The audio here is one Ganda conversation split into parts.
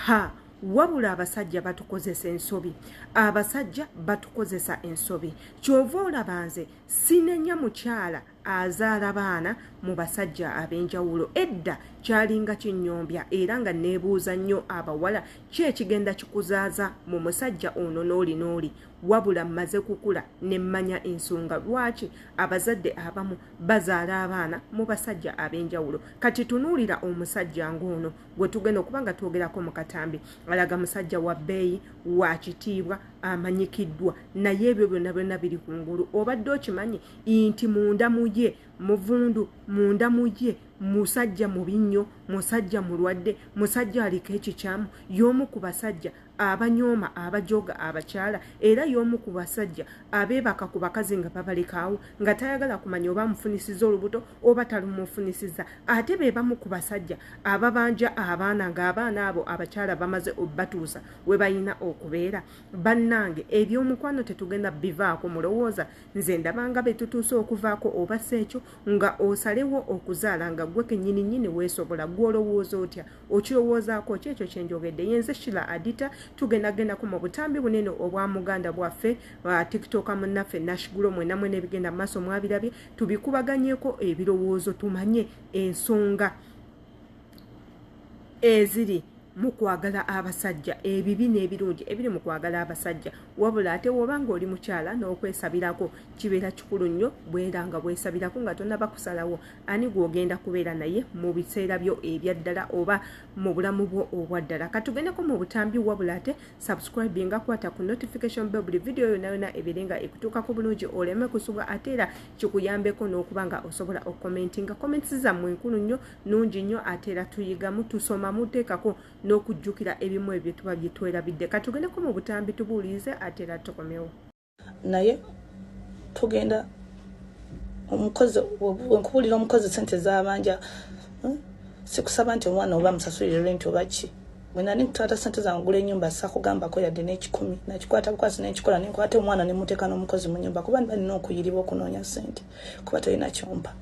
ha wabula abasajja batukozesa ensobi abasajja batukozesa ensobi kyova olaba nze sinenya mukyala azaala baana mu basajja ab'enjawulo edda kyalinga kinyombya era nga neebuuza nnyo abawala ki ekigenda kikuzaaza mu musajja ono n'oli n'oli wabula mmaze kukula ne mmanya ensonga lwaki abazadde abamu bazaala abaana mu basajja ab'enjawulo kati tunuulira omusajja ng'ono gwe tugenda okuba nga twogerako mu katambi alaga musajja wa bbeeyi wa kitiibwa amanyikiddwa naye ebyo byonna byonna biri ku ngulu obadde okimanyi nti munda mu ye muvundu munda mu ye musajja mubi nnyo musajja mulwadde musajja aliko ekikyamu y'omu ku basajja abanyooma abajooga abakyala era y'omu ku basajja abeebaka ku bakazi nga babalekaawo nga tayagala kumanya oba amufunisiza olubuto oba talumufunisiza ate be bamu ku basajja ababanja abaana ng'abaana abo abakyala bamaze obatuusa we balina okubeera bannange eby'omukwano tetugenda bivaako mulowooza nze ndabanga be tutuuse okuvaako oba si ekyo nga osalewo okuzaala nga gwe kenyini nyini weesobola gw'olowooza otya okirowoozaako ki ekyo kyenjogedde yenze shila adita tugenda gendako mu butambi bunene obwa muganda bwaffe uh, tiktoka munnaffe nashigulo mwena mwena ebigenda maaso mwabirabye tubikubaganyeko ebirowoozo tumanye ensonga eziri mukwagala abasajja ebibi n'ebirungi ebiri mu kwagala abasajja wabula ate woba nga oli mukyala n'okwesabirako kibeera kikulu nnyo bwera nga bwesabirako nga tonabakusalawo ani gwogenda kubeera naye mu biseera byo ebyaddala oba mu bulamu bwo obwaddala katugendeko mu butambi wabula ate subscribe nga kwata ku notification be buli vidiyo yona yona ebeere nga ekutuukako bulungi oleme kusubwa ate era kikuyambeko n'okuba nga osobola okomenti nga comments zammwe nkulu nnyo nungi nnyo ate era tuyigamu tusoma muteekako n'okujjukira ebimu ebyo tuba byetwerabidde katugendeko mu butambi tubuuliize ate era tukomewo naye tugenda omukozi wenkubulira omukozi sente zabanja hmm? sikusaba nti omwana oba musasulire rent oba ki bwenani nkutwata sente zange gula enyumba sakugambako yadde nekikumi nakikwata bukwasi nenkikola nenkwata omwana nemuteeka n'omukozi mu nyumba kuba nibalina okuyiriba okunoonya sente kuba tolina kyompa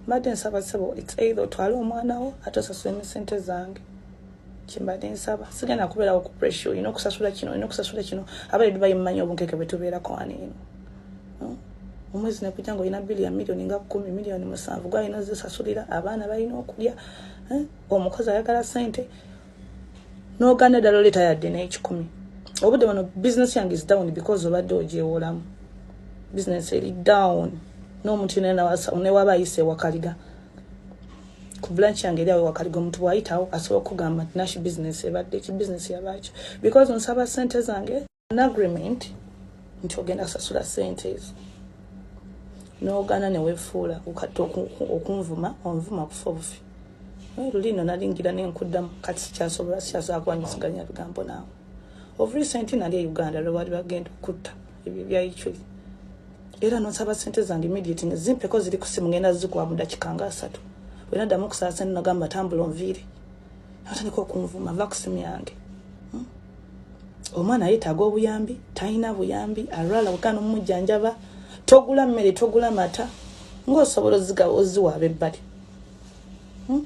mbadde nsaba sebo its either otwale omwana wo ate osasula emisente zange kyembadde nsaba sigenda kubeerawo ku pressure olina okusasula kino olina okusasula kino aba e dubayi mumanyi obunkeke bwe tubeerako wano eno hmm? omwezi nekujja nga olina bili ya miliyoni nga kumi miliyoni musanvu gwalina ozisasulira abaana balina okulya hmm? omukozi ayagala sente noganda ddala oleeta yadde n'ekikumi obudde wano bizinesi yange is down because obadde ogyewolamu bizinesi eri down n'omuntu yona newaba ayise ewakaliga ku blanch yange eri awo wakaliga omuntu bwayitawo asobola okugamba nti nashi business ebadde ki business yabaaki because nsaba sente zange an agreement nti ogenda kusasula sente ezo n'ogaana newefuula ukati okunvuma onvuma kufa obufi naye luli no nalingira nenkuddamu kati sikyasobola sikyasobola kuba nyisiganya bigambo naawe of recent nali e uganda lwebaali bagenda okutta ebyo bya ichuli era nonsaba sente zange immediate nga zimpeko ziri kusimu ngenda zikuwa mu dakika nga asatu wena ddamu okusaba sente nagamba tambula onviire natandika okunvuma va kusimu yange hmm? omwana yetaaga obuyambi talina buyambi alwala wekana omumujjanjaba togula mmere togula mata ngaosobola ozigawa oziwa abebbali hmm?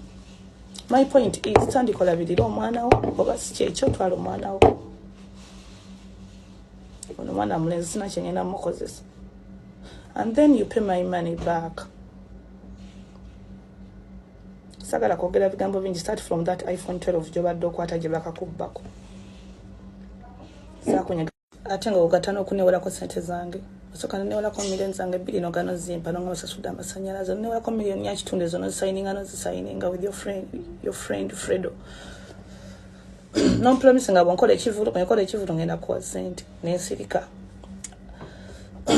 my point is tandika olabirira omwana wo oba si kyekyo otwala omwana wo ono mwana mulenzi sina kyengenda mukozesa and then you pay my money back sagala kwogera bigambo bingi start from that iphone 12 gyobadde okwata gye bakakubbako sakunyega ate nga ogata n'okunewolako sente zange osoka nenewolako million zange bbiri nogano zimpa nonga basasudde amasanyalaze onewolako million yakitundu ezo nozisayininga nozisayininga with your friend, your friend fredo no promise nga bwonkola ekivulu bwenkola ekivulu ngenda kuwa sente nensirika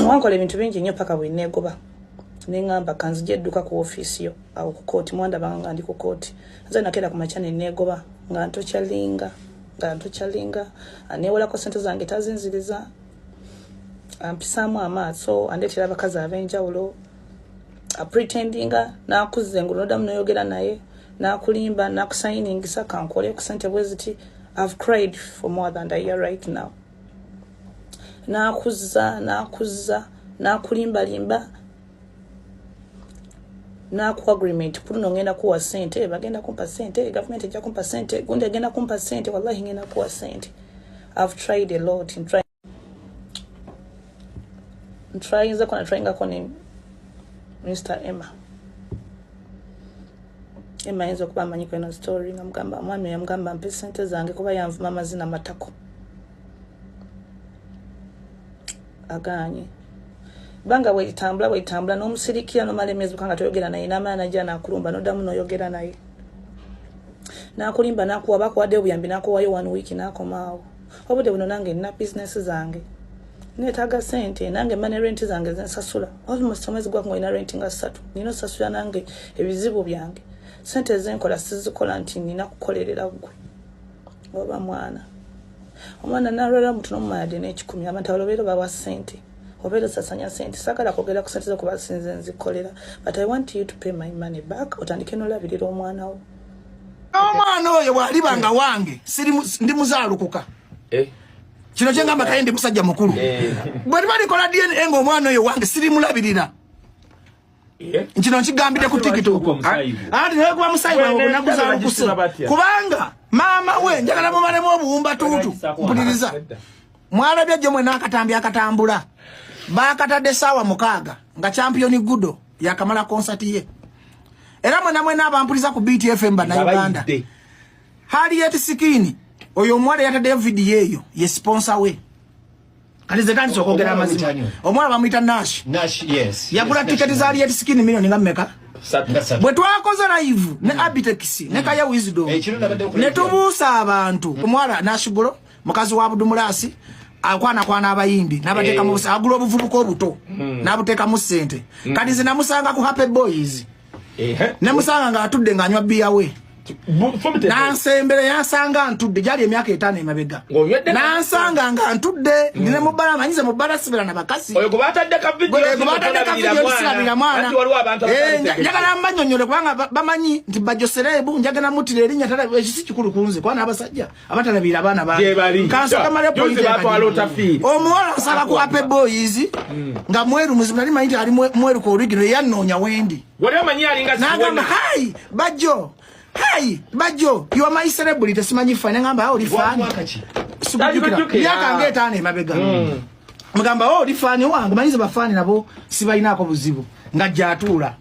wankola ebintu bingi nnyo paka bwenegoba neŋamba kanzija edduka ku ofiisi yo awo ku kooti mwandabanga nga ndi ku kooti nze nakeera ku makya nenegoba nga ntokyalinga nga ntokyalinga anewolako sente zange tazinziriza ampisaamu amaaso andeetera abakazi ab'enjawulo apretendinga nakuzze ngaonodamu noyogera naye nakulimba nakusayiningisa kankole ku sente bweziti ive cried for more than a year right now nakuzza nakuzza nakulimbalimba naku agreement kuno ngenda kuwa sente bagenda kumpa sente government ejja kumpa sente gundi agenda kumpa sente wallahi ngenda kuwa sente ive tried a lot in trying ntrayinze kona trayingako ne mr emma emma ayinza okuba amanyi kweno story nga mugamba omwami oyo mugamba mpe sente zange kuba yanvuma amazina matako aganye banga bwelitambula bwelitambula nomusirikira nomala emyezi buka nga toyogera naye namala naja nakulumba nodamu noyogera naye nakulimba nakuwa bakuwadde obuyambi nakuwayo one week nakomaawo na obudde buno nange nina bizinesi zange neetaaga sente nange mane renti zange zensasula almost omwezi gwaku ngaolina renti nga ssatu nina osasula nange ebizibu byange sente ezenkola sizikola nti nina kukolerera ggwe oba mwana omwana nalwala mutu nomumalade nekikumi abantu abalobeera bawa sente obeera osasanya sente sagala kwogera ku sente zokuba sinze nzikolera but i want you to pay my money back otandike nolabirira omwana wo omwana oyo bwaliba nga wange ndi muzalukuka eh. kino kyengamba kaye ndi musajja mukulu eh. bweliba likola dna nga omwana oyo wange sirimulabirira eh. kino nkigambidde ku tiktok anti naye kuba musayi wawe onakuzalukuse kubanga maama we njagala mumalemu obuwumbatuutu mpuliriza mwalabya jjo mwena akatambi akatambula bakatadde saawa mukaaga nga champiyoni gudo yakamala concert ye era mwena mwena abampuliza ku BTFM bana Uganda hali yet sikini oyo mwale yata David yeyo ye sponsor we kati ze tandise okwogera amazima omwana bamuyita nash nash yes yagula tiketi za aliyet skin milioni nga mmeka bwe twakoze live ne mm. abitex ne mm. kaya wisdom eh, ne tubuusa abantu omwana nashigulo mukazi wa budumulasi akwana kwana abayimbi nabateka mu eh. agula obuvubuka obuto hmm. nabuteka mu sente hmm. kati zina musanga ku happy boys eh ne musanga nga atudde nga anywa biya we nansembere yansanga ntudde gyali emyaka etaano emabega nansanga nga ntudde hmm. ndine mubbala manyize mubbala sibira na bakasi sirabira mwana eh, njagala mbanyonyole kubanga bamanyi nti bajosereebu njagala mutira erinnya ekisi kikulu kunze kwana abasajja abatalabira abaana baomuwala nsaba kwape boys hmm. nga mweru muzibu nali manyi ti ali mweru ku origino eyannoonya wendi nagamba hai bajjo hai bajjo your my celebrity simanyi ffa nengamba ah, oli fani myaka nga etaano emabega hmm. mugamba oh, oli fani wange manyize bafaani nabo sibalinaako buzibu nga jatuula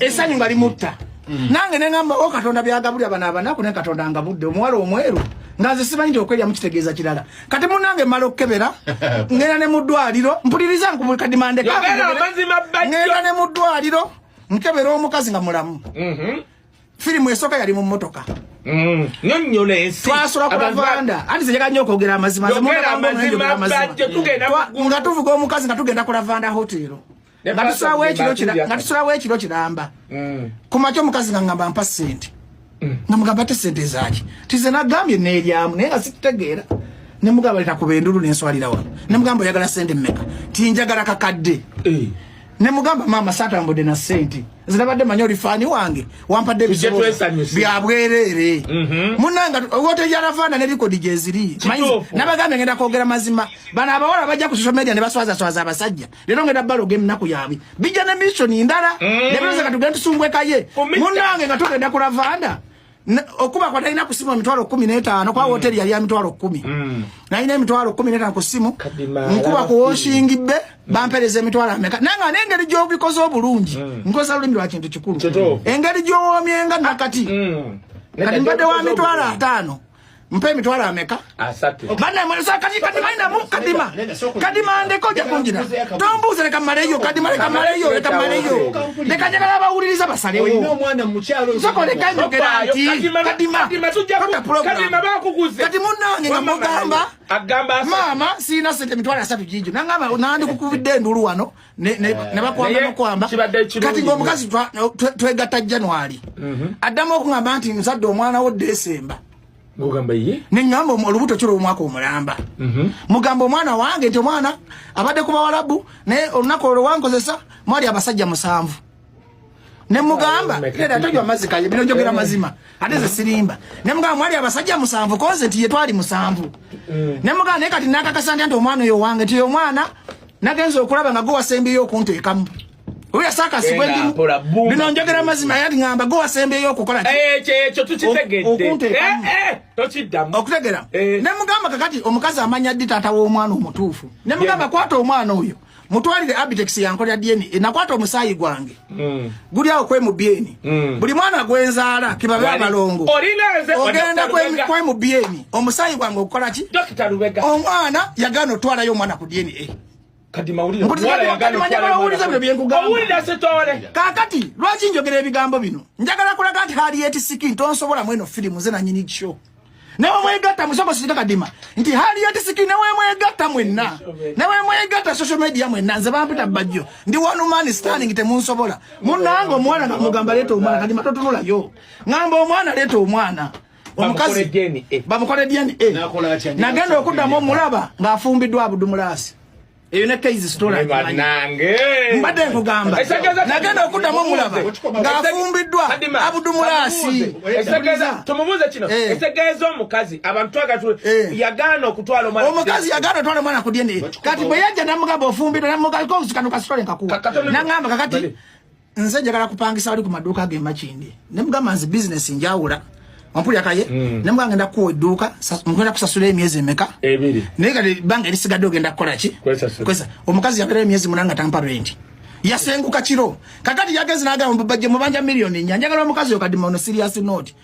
esanyu nga limutta mm. nange nengamba o oh, katonda byagabulira bana abanaku ne katonda nga budde omuwala omweru nga nze simanyi nti okwerya mukitegeeza kirala kati munange mala okukebera ngenda ne mu ddwaliro mpuliriza nkubukadimandeka ngenda ne mu ddwaliro nkebera omukazi nga mulamu mm-hmm. firimu esooka yali mu mmotoka mm. nyonyola ensi twasula ku lavanda anti zenjaga nnyo okwogera amazima nga tuvuga omukazi nga tugenda ku lavanda hotero nga tusulawo ekiro kiramba mm. ku makya omukazi nga ngamba mpa sente mm. nga mugamba te sente zaki tize nagambye neryamu naye nga situtegeera nemugamba leta kuba endulu nenswalira wano nemugamba oyagala sente mmeka tinjagala kakadde eh. ne mugamba maama satambudde na sente nze nabadde manyi oli faani wange wampadde ebizibu bya bwereere mhm. munanga wote yarafaana ne likodi gyeziri nabagambye ngenda kwogera mazima bano abawala bajja ku social media ne baswazaswaza abasajja leero ngenda baloga eminaku yaabwe bijja ne mission ndala mhm. ne biroza nga tugenda tusumbwekaye munange nga tugenda ku ravanda okuba kwa talina kusimu emitwalo kumi n'etaano kwa mm. woteri yali ya mitwalo kumi mm. nalina emitwalo kumi n'etaano ku simu nkuba ku woshingi be mm. bampereza emitwalo ameka naye nga n'engeri gy'obikoze obulungi nkozesa lulimi lwa kintu kikulu engeri gy'owoomyenga nakati kati mbadde wa mitwalo ataano mpa emitwalo ameka banaemwesaakatimandamu kadima kadima ndeka ojja kunjira tombuuza leka maleyo kadima leka maleyo leka maleyo leka njagala abawuliriza basalewo soko leka enjogera nti kadima kati munange nga mugamba maama sirina sente emitwalo asatu gijo nangamba nandikukubidde endulu wano nebakwamba eh, nokwamba kati ngaomukazi twegatta january mhm. addamu okugamba nti muzadde omwana wo desemba neŋamba olubuto kiro omwaka omulamba mhm. mugamba omwana wange nti omwana abadde ku bawalabu naye olunaku olwo wankozesa mwali abasajja musanvu ne mugamba era atajwa mazzi kaye bino njogera mazima ate ze sirimba ne mugamba mwali abasajja musanvu koze nti ye twali musanvu mm. ne mugamba naye kati nakakasa nti omwana oyo wange nti omwana nagenza okulaba nga gwewasembeyo okunteekamu oyo sakasibwe ndimu bino njogera mazima yali ngamba gwewasembeyo okukola eh, ekyo tukitegeddeokunteekamu eh, eh, okutegera ne mugamba kakati omukazi amanya ddi taata w'omwana omutuufu ne mugamba kwata omwana oyo mutwalire abitex yankolera dna e, nakwata omusaayi gwange mm. guli awo kwemubyeni mm. buli mwana gwenzaala kibabe abalongo ogenda kwemubyeni omusaayi gwange okukola ki omwana yagana otwalayo omwana ku dna e. kakati lwaki njogera ebigambo bino njagala kulaga nti hali yetisikin tonsobola mweno firimu ze nanyini kyo ne bwe mwegatta musoko sika kadima nti hali ya tisiki ne bwe mwegatta mwenna ne bwe mwegatta social media mwenna nze bampita bajjo ndi one man standing te munsobola munango mwana na mugamba leto mwana kadima totunula yo ngamba omwana leto mwana omukazi bamukole DNA nagenda okuddamu omulaba ng'afumbiddwa abudumulaasi eyo ne kaizi story banange mbadde nkugamba nagenda okuddamu omulaba ng'afumbiddwa abudumulaasi tumubuuze kino eh. etegeeza omukazi abantu twagala eh. yagaana okutwala omwana omukazi yagaana otwala omwana ku dna kati bwe yajja namugamba ofumbiddwa namugaliko obusikano ka story nkakuwa nangamba kakati nze njagala kupangisa wali ku maduuka ge makindi ne mugamba nze bizinesi njawula ompulira kaye mm. ne mugamba ngenda kuwa edduuka ngenda kusasula emyezi emeka ebiri naye kati ebbanga erisigadde ogenda kukola ki kwesa omukazi yabeera emyezi munanga tampa renti yasenguka kiro kakati yagezi nagamba bajje mubanja miliyoni nya njagala omukazi yo kadi maono serious note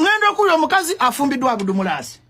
ngenda okuwulira omukazi afumbiddwa abudumulaasi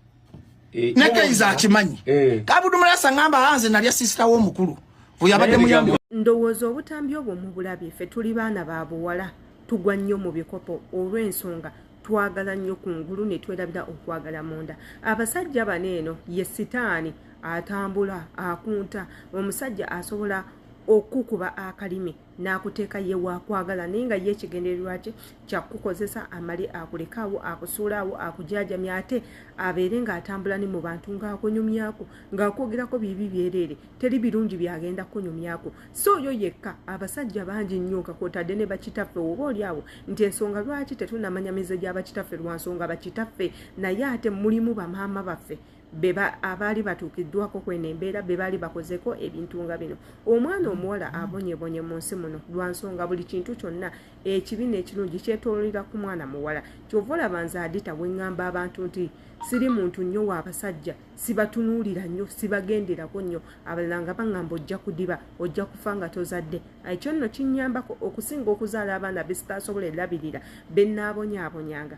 eh, ne keiza akimanyi eh. kabudumulaasi aŋamba hanze nalya sisita wo omukulu oyabadde muyambi ndowooza obutambi obwo mubulabye ffe tuli baana ba buwala tugwa nnyo mu bikopo olw'ensonga twagala nnyo ku ngulu ne twerabira okwagala munda abasajja bano eno ye sitaani atambula akunta omusajja asobola okukuba akalimi n'akuteeka ye waakwagala naye nga ye ekigendererwa kye kyakukukozesa amale akulekaawo akusuulaawo akujaajamya ate abeere ng'atambula ne mu bantu ng'akunyumyako ng'akwogerako bibi byereere teri birungi byagenda kukunyumyako si oyo yekka abasajja bangi nnyo nga kwotadde ne bakitaffe oba oli awo nti ensonga lwaki tetunamanya mize gya bakitaffe lwa nsonga bakitaffe naye ate mulimu bamaama baffe beba abaali batuukiddwako kweno embeera be baali bakozeko ebintu nga bino omwana omuwala abonyebonye mu nsi muno lwa nsonga buli kintu kyonna ekibi n'ekirungi kyetololera ku mwana muwala kyova olaba nze adita we ŋŋamba abantu nti siri muntu nnyo w'abasajja sibatunuulira nnyo sibagenderako nnyo abalala nga baŋŋamba ojja kudiba ojja kufa nga tozadde ekyo nno kinnyambako okusinga okuzaala abaana besitaasobola erabirira be nnaabonyaabonyanga